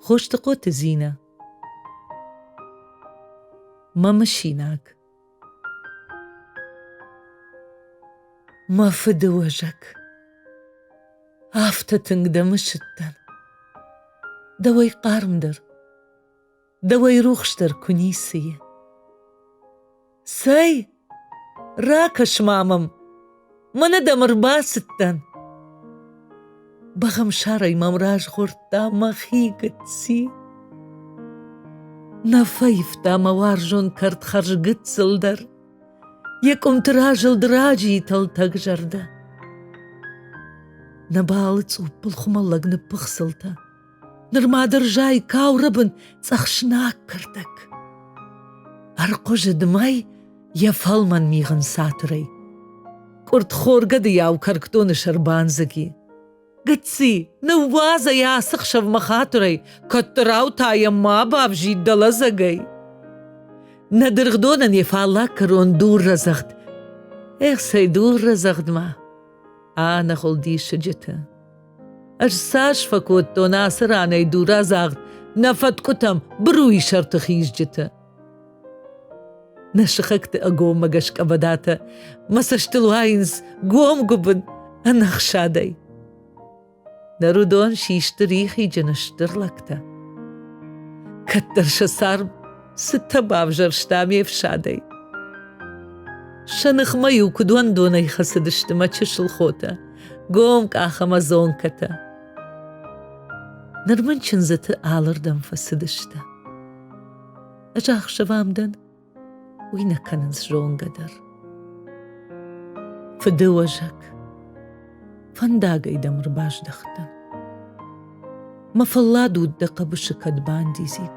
Хостыхъоты Зинӕ Мӕ мысинаг Мӕ фыды уӕзӕг Афтӕ тынг дӕ мысыдтӕн Дӕуӕй хъармдӕр Дӕуӕй рухсдӕр куы ницы и. Цӕй, ракӕс-ма мӕм, мӕнӕ дӕм ӕрбацыдтӕн. Бӕгъӕмсарӕй мӕм разгъордта мӕхи гыцци. Нӕ фӕивта мӕ уарзон кӕртхӕрз гыццыл дӕр, йӕ къуымты разылд раджы и тӕлтӕг зӕрдӕ. Нӕ балы цъуппыл хуымӕллӕг ныппыхсылтӕ, нырма дырзӕй каурыбын цъӕхснаг кӕрдӕг. Ӕрхъуызы дымӕй йӕ фӕлмӕн мигъын цатырӕй. Къуыртхор гӕдыйау кӕркдоны сӕр бандзыги. Гыцци, ныууадзӕй ацы хсӕвмӕ хатырӕй, кӕддӕрау та йӕ ма бавзид дӕ лӕдзӕгӕй. Нӕ дыргъдонӕн йӕ фаллаг кӕрон дур рӕдзӕгъд. Эх, цӕй дур рӕдзӕгъдмӕ! Ӕнӕхуыл диссаджыты! Ӕз цас фӕкодтон ацы ранӕй дурадзагъд нӕ фӕткъуытӕм быруйы сӕрты хизджытӕ. Нӕ сыхӕгты ӕгоммӕ гӕсгӕ бадатӕ мӕ цӕстыл уайынц гом-гуыбын ӕнӕхсадӕй. Ныр уыдон систы рихиджын стыр лӕгтӕ. Кӕддӕр сӕ царм Цытӕ бавзӕрста ме фсадӕй! Сӕ ныхмӕ-иу куыд уӕндонӕй хӕцыдысты мӕ чысыл хотӕ, гомкъах ӕмӕ зонкӕтӕ. Ныр мын чындзыты алырдӕм фӕцыдыстӕ. Ӕз ӕхсӕвӕм дӕн, уый нӕ кӕнынц зонгӕ дӕр. Фыдыуӕзӕг, фӕндагӕй дӕм ӕрбаздӕхтӕн. Мӕ фӕллад уд дӕ хъӕбысы кӕд бандидзид.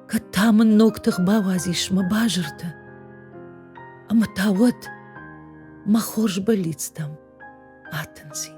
Кӕд та мын ног тых бауадзис мӕ базыртӕ. Ӕмӕ та уӕд мӕ хорз бӕллицтӕм атындзин.